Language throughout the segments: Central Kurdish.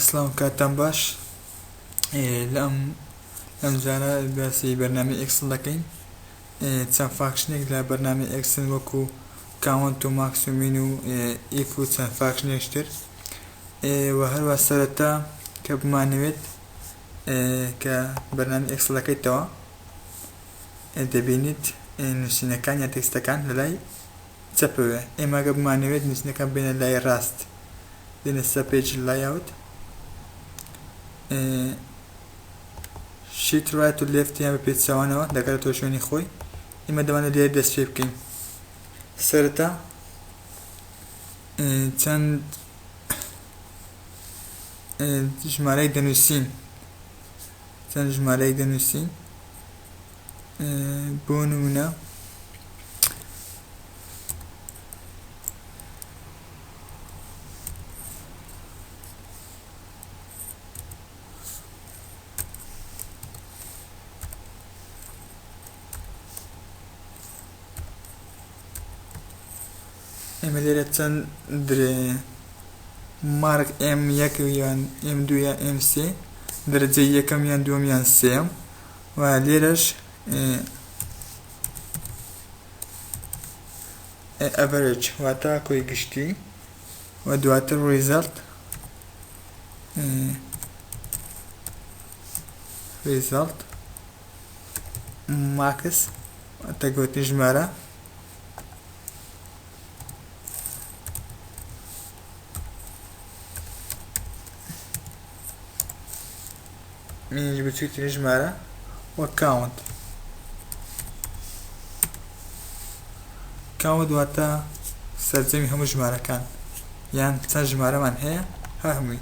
سڵاو کاتتان باش لە ئەم ئەم جارە باسی بەرنامی ئێکسڵ دەکەین چەند فاکشنێک لە بەرنامی ئێکسن وەکو کاونت و ماکسومین و ئیف و چەند فاکشنێشتر و هەروە سەرەتا کە بمانەوێت کە بەرنامی ئێکسڵەکەیتەوە دەبینیت نوسینەکان یا تێکستەکان لەلای چەپەوەیە ئێمە گەر بمانەوێت نوسینەکان بێنە لای ڕاست دێنە سە پێج لایاوت شیت ڕایت و لێفت یان بە پێچەوانەوە دەگەرێتەوە شوێنی خۆی ئێمە دەمانە لێ دەست پێ بکەین سەرەتا چەند ژمارەی دەنووسین چەند ژمارەیەک دەنووسین بۆ نمونە ئێمە لێرە چەند درە مارک ئێم یەک یان ئێم دوو یا ئێم سێ دەرەجەی یەکەم یان دووەم یان سێم و لێرەش ئەڤەرج واتە کۆی گشتی و دواتر ڕیزەڵت ڕیزەڵت ماکس واتە گۆتنی ژمارە منیش بچووترین ژمارە وە کاونت کاوە دواتە سەرجەمی هەموو ژمارەکان یان چەند ژمارەمان هەیە هەمووی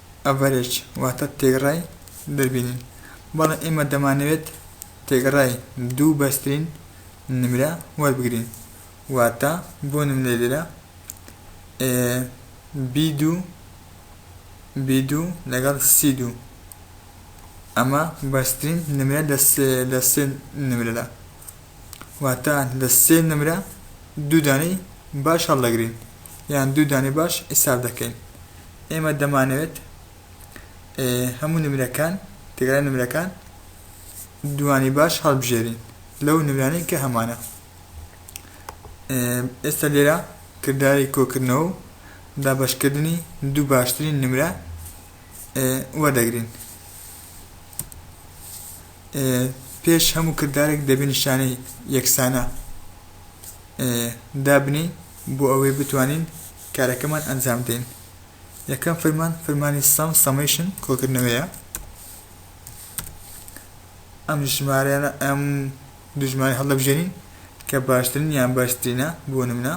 ئەڤەرێج واتە تێگڕای دەربینین بەڵێ ئێمە دەمانەوێت تێگڕای دوو بەرزترین نمرە وەربگرین واتە بۆ نمونە لێرە بی دوو بی دوو لەگەڵ سی دوو ئەمە بەرزترین نمرە لە سێ نمرەدا واتە لە سێ نمرە دوو دانەی باش هەڵدەگرین یان دوو دانەی باش حیساب دەکەین ئێمە دەمانەوێت هەموو نمرەکان تێگەرای نمرەکان دوانی باش هەڵبژێرین لەو نمرانەی کە هەمانە ئێستا لێرە کردداری کۆکردنەوە و دابەشکردنی دوو باشترین نمرە وەردەگرین پێش هەموو کردارێک دەبێ نیشانەی یەکسانە دابنین بۆ ئەوەی بتوانین کارەکەمان ئەنجام دەین یەکەم فرمان فرمانی سەم سەمەیشن کۆکردنەوەیە ئەم ژمارەیانە ئەم دوژمانی هەڵدەبژێنین کە باشترین یان باشترینە بۆ نمونە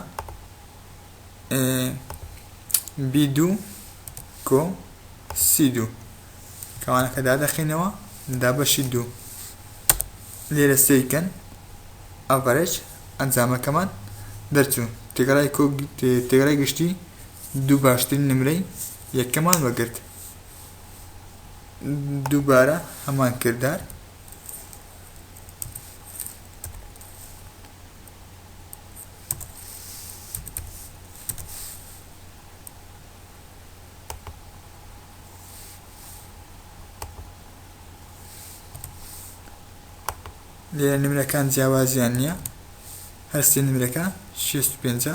بی دوو کۆ سی دوو کەوانەکە دادەخەینەوە دا بەشی دوو لێرە سەیر کەن ئەڤەرێج ئەنجامەکەمان دەرچوو تێگەرای تێگەرای گشتی دوو باشترین نمرەی یەکەمان وەگرت دووبارە هەمان کردار لێرە نمرەکان جیاوازیان نییە هەر سێ نمرەکە شێست و پێنجە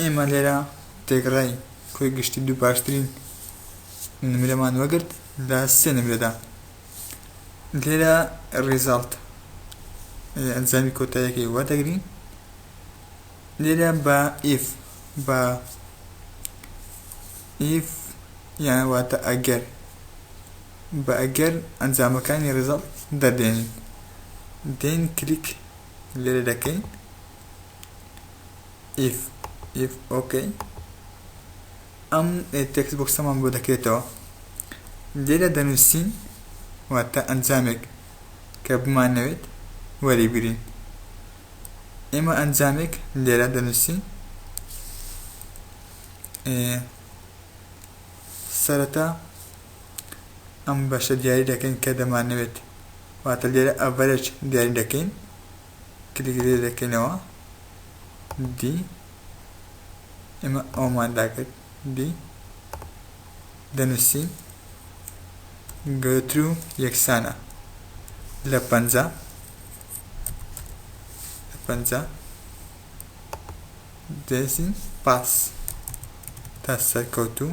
ئێمە لێرە تێکڕای کۆی گشتی دوو باشترین نمرەمان وەگرت لە سێ نمرەدا لێرە ڕیزالت ئەنجامی کۆتایەکەی وەردەگرین لێرە بە ئیف بە ئیف یان واتە ئەگەر بە ئەگەر ئەنجامەکانی ڕیزەڵت دەردێنین دێین کلیک لێرە دەکەین ئیف ئیف ئۆکەی ئەم تێکس بۆکسەمان بۆ دەکرێتەوە لێرە دەنووسین واتە ئەنجامێک کە بمانەوێت وەریگرین ئێمە ئەنجامێک لێرە دەنووسین سەرەتا ئەم بەشە دیاری دەکەین کە دەمانەوێت واتە لێرە ئەڤەرێج دیاری دەکەین کلیک لێ دەکەینەوە دی ئێمە ئەومان داکرد دی دەنووسین گەترو یەکسانە لە پەنجا لە پەنجا دەسین پاس تا سەرکەوتوو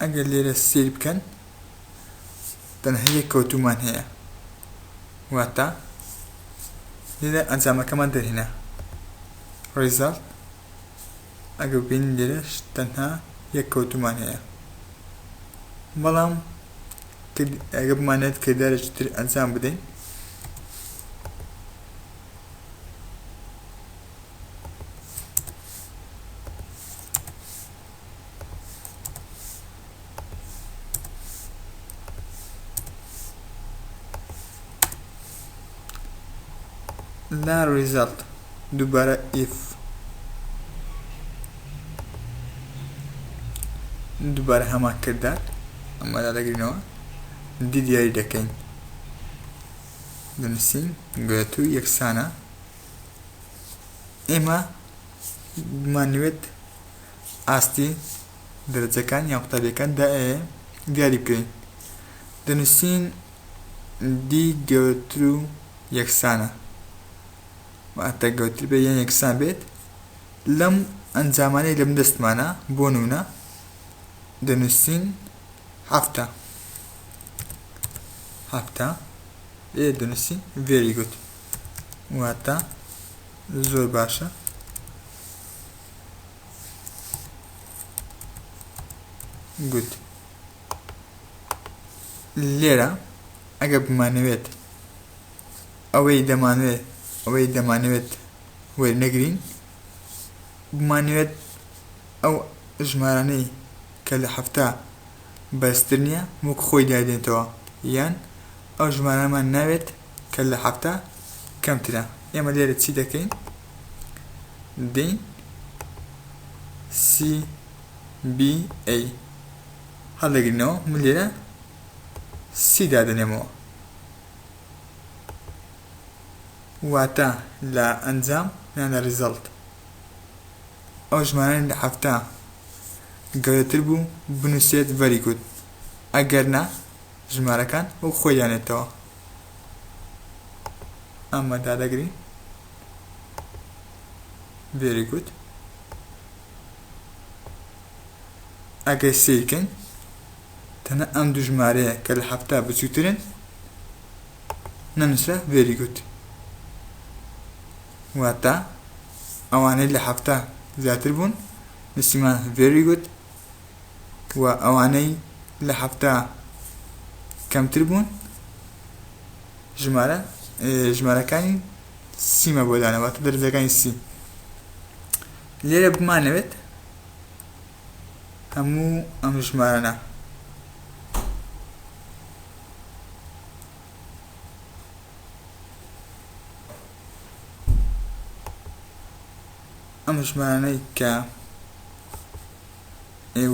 ئەگەر لێرە سەیر بکەن تەنها یەک کەوتومان هەیە واتە لێرە ئەنجامەکەمان دەرهێنا ڕێزاڵ ئەگە بین لێرەش تەنها یەک کەوتومان هەیە بەڵام ئەگە بمانێت کردارێکی تر ئەنجام بدەین نا ریزەلت دووبارە ئیف دووبارە هەمان کردار ئەمەدا دەگرینەوە دی دیاری دەکەین دەنووسین گوێت و یەکسانە ئێمە مانوێت ئاستی دەرەجەکان یان قوتابیەکان دیاری بکەین دەنوسین D گەورەترو یەکسانە واتە گەورەتر بێت یان یەکسان بێت لەم ئەنجامانەی لەم دەستمانە بۆ نونە دەنوسین هەفتە هەفتە ئێ دەنوسین very good واتە زۆر باشە گوت لێرە ئەگە بمانەوێت ئەوەی دەمانوێت ئەوەی دەمانەوێت وەرنەگرین بمانەوێت ئەو ژمارانەی کە لە هەفتا بەرزتر نییە وەک خۆی دادێنێتەوە یان ئەو ژمارەمان ناوێت کە لە هەفتا کەمترە ئێمە لێرە چی دەکەین هەڵدەگرنەوە من لێرە سی دادەنێمەوە واتە لە ئەنجام یان لە ریزەڵت ئەو ژمارانە لە حەفتا گەورەتر بوو بنووسێت ڤەری گود ئەگەر نا ژمارەکان وەک خۆی دانێتەوە ئەمە دادەگرین very good ئەگەر سیرکن تەنە ئەم دوو ژمارەیە کە لە هەفتا بچووترن نەنووسرا very good واتە ئەوانەی لە هەفتا زیاتر بوون نووسیمان very good و ئەوانەی لە حەفتا کەمتر بوون ژمارە ژمارەکانی سیمە بۆ دانەواتە دەرجەکانی سی لێرە بمانەوێت هەموو ئەم ژمارەە ئەم ژمارانەی کە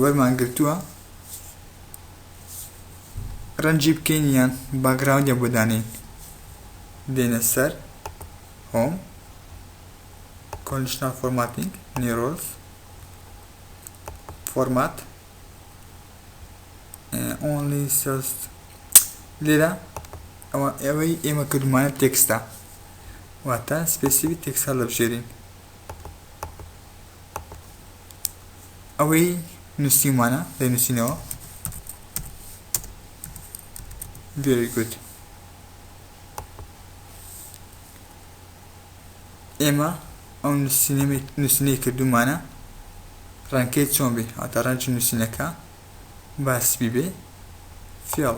وەرمان گرتووە ڕەنجی بکەین یان باگراوندە بۆ دانین دێنە سەر هۆم کۆنشتان فۆرماتینگ نیرۆز فۆرمات ئۆنلی سست لێرە ئەوە ئەوەی ئێمە کردمانە تێکستا واتە سپێسیوی تێکسا لە بژێرین ئەوەی نووسیومانە دەینووسینەوە very good ئێمە ئەو نووسینەی کردومانە ڕەنکەی چۆن بێ هاتە ڕەنج نووسینەکە باسبی بێ فێڵ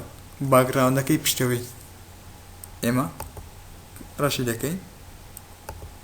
باگراوندەکەی پشتەوەی ئێمە ڕەشی دەکەین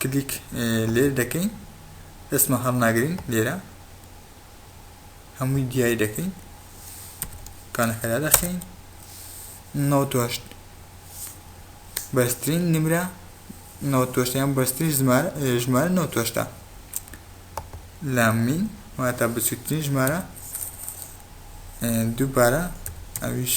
کلیک لێر دەکەین دەستمان هەڵناگرین لێرە هەمووی دیاری دەکەین کانەکەدا دەخین نەوتۆشت بەرزترین نمرە نەوتۆشتیان بەرزترین ژمارە ژمارە نەوتۆشتە لامین واتە بچووترین ژمارە دووبارە ئەویش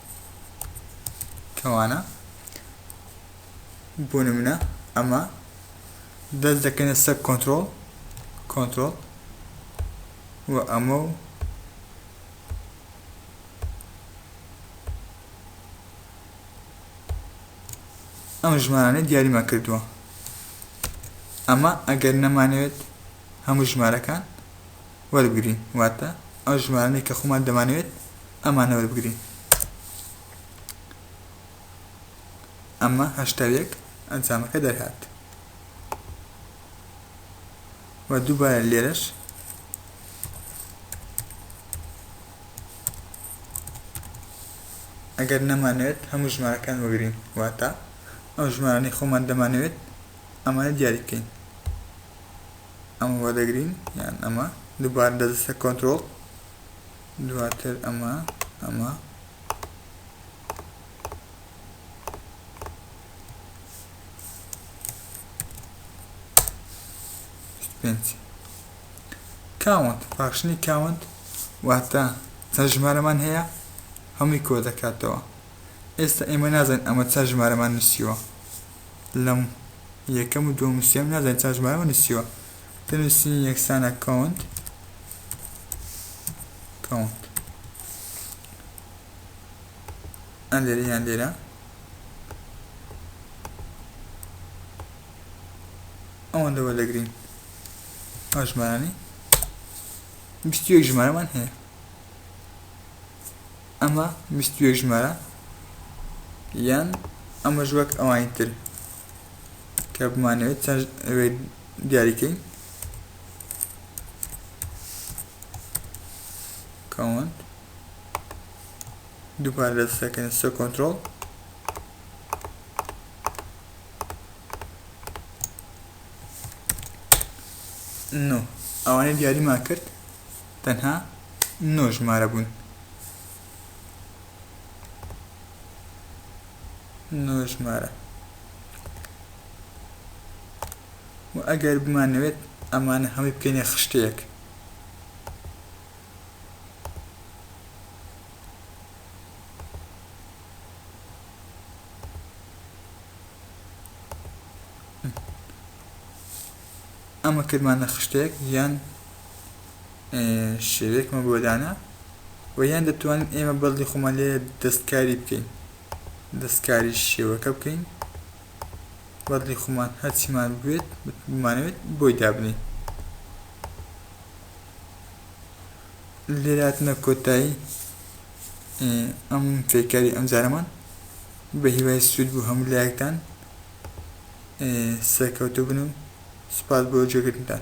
کەوانە بۆ نمونە ئەمە دەست دەکەنە سەر کۆنتترۆل کۆنتترۆل و ئەمە و ئەم ژمارانە دیاریمان کردووە ئەمە ئەگەر نەمانەوێت هەموو ژمارەکان وەربگرین واتە ئەو ژمارانەی کە خۆمان دەمانەوێت ئەمانە وەربگرین ئەمە هەشتا و یەک ئەنجامەکە دەرهات و دووبارە لێرەش ئەگەر نەمانەوێت هەموو ژمارەکان وەگرین واتە ئەو ژمارانەی خۆمان دەمانەوێت ئەمانە دیاریکەین ئەمە وەدەگرین یان ئەمە دووبارە دەدەسە کۆنترۆڵ دواتر ئەمە ئەمە پێنج کاونت فاکشنی کاونت واتە چەند ژمارەمان هەیە هەمووی کۆ دەکاتەوە ئێستا ئێمە نازانین ئەمە چەند ژمارەمان نووسیوە لەم یەکەم و دووەم و سێم نازانین چەند ژمارەمان نووسیوە دەنووسین یەکسانە کاونت کاونت ئەن لێرە یان لێرە ئەوان لەوە دەگرین ئەو ژمارانی بیست یەک ژمارەمان هەیە ئەمە بیست و یەک ژمارە یان ئەمەش وەک ئەوانی تر کە بمانەوێت چەند ئەوێت دیاریکەین کاونت دووپار دەستەکەن سە کۆنتترۆل نۆ ئەوانەی دیاریمان کرد تەنها نۆ ژمارە بوون. نۆ ژمارە و ئەگەر بمانەوێت ئەمانە هەمووی بکەینە خشتەیەک ئەمە کردمانە خشتەیەک یان شێوەیەکمان بۆ دانا و یان دەتوانین ئێمە بەدڵی خۆمان لێ دەستکاری بکەین دەستکاری شێوەکە بکەین بەدڵی خۆمان هەرچیمان بوێت بمانەوێت بۆی دابنین لێراتنە کۆتایی ئەم فێکاری ئەم جارەمان بە هیوای سوود بوو هەموو لایەکتان سەرکەوتو بن و سوپاس بۆ گوێگرتنتان.